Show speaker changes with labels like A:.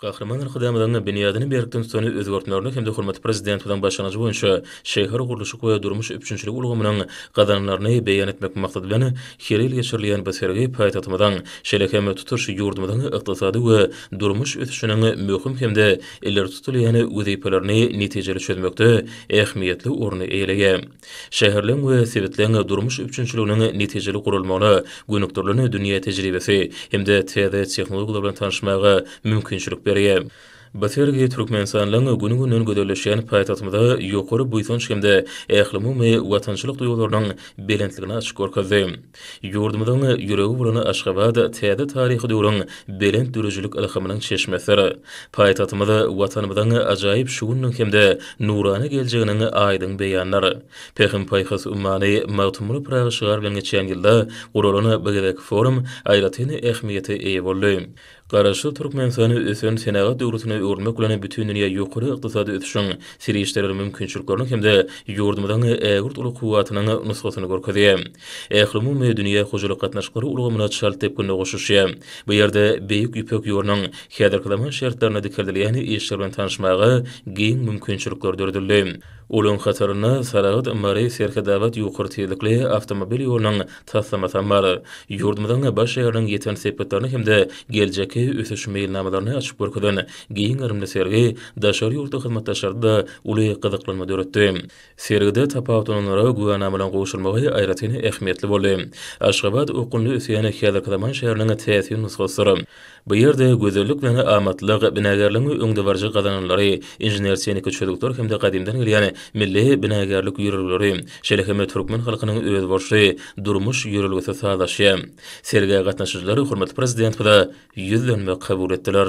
A: Gahryman Arkadagymyzyň binýadyny berkden tutany özgertmelerine hem-de hormatly Prezidentimiziň başlangyjy boýunça şähergurluşyk we durmuş üpjünçiligi ulgamynyň gazananlaryny beýan etmek maksady bilen her ýyl geçirilýän bu sergi paýtagtymyzyň, şeýle hem tutuş ýurdumyzyň ykdysady we durmuş ösüşiniň möhüm hem-de ileri tutulýan wezipelerini netijeli çözmekde ähmiýetli orny eýeleýär. Şäherleň we sebitleň durmuş üpjünçiliginiň netijeli guralmagyna gönükdirilen dünýä tejribesi hem-de täze tehnologiýalar bilen tanyşmaga mümkinçilik berýär. Bu sergi Türkmenistanyň gün-günden gözelleşýän paýtagtymyza ýokary buýsanç hem-de ählumumy watançylyk duýgularynyň belentligini açyp görkezdi. Ýurdumyzyň ýüregi bolan Aşgabat täze taryhy döwrüň belent döredijilik ylhamynyň çeşmesidir. Paýtagtymyz Watanymyzyň ajaýyp şu gününiň hem-de nurana geljeginiň aýdyň beýanydyr. Pähim-paýhas ummany Magtymguly Pyragy şygar bilen geçen ýylda guralan bu gezekki forum aýratyn ähmiýete eýe boldy. Garaşsyz Türkmenistany ösen senagat döwletine öwürmek bilen bütin dünýä ýokary ykdysady ösüşiň, serişdeler mümkinçilikleriniň hem-de ýurdumyzyň ägirt uly kuwwatynyň nusgasyny görkezýär. Ählumumy dünýä hojalyk gatnaşyklary ulgamyna çalt depginde goşuşýar. Bu ýerde Beýik Ýüpek ýolunyň häzirki zaman şertlerinde dikeldilýän işler bilen tanyşmaga giň mümkinçilikler döredildi. Olaryň hatarynda Saragt, Mary, Serhetabat ýokary tizlikli awtomobil ýolunyň taslamasam bar. Ýurdumyzyň baş şäheriniň ýeten sepgitlerini hem-de geljekki ösüş meýilnamalaryny açyp görkezen giň gerimli sergi daşary ýurtly hyzmatdaşlarda-da uly gyzyklanma döretdi. Sergide tapawutlananlara güwänamalaryň gowşurylmagy aýratyn ähmiýetli boldy. Aşgabat okgunly ösýän häzirki zaman şäheriniň täsin nusgasydyr. Bu ýerde gözellik bilen amatlyk, binagärligiň öňdebaryjy gazananlary, inžener-tehniki çözgütler hem-de gadymdan gelýän milli binagärlik ýörelgeleri, şeýle hem türkmen halkynyň özboluşly durmuş ýörelgesi sazlaşýar. Sergä gatnaşyjylar hormatly Prezidentimize ýüzlenme kabul etdiler.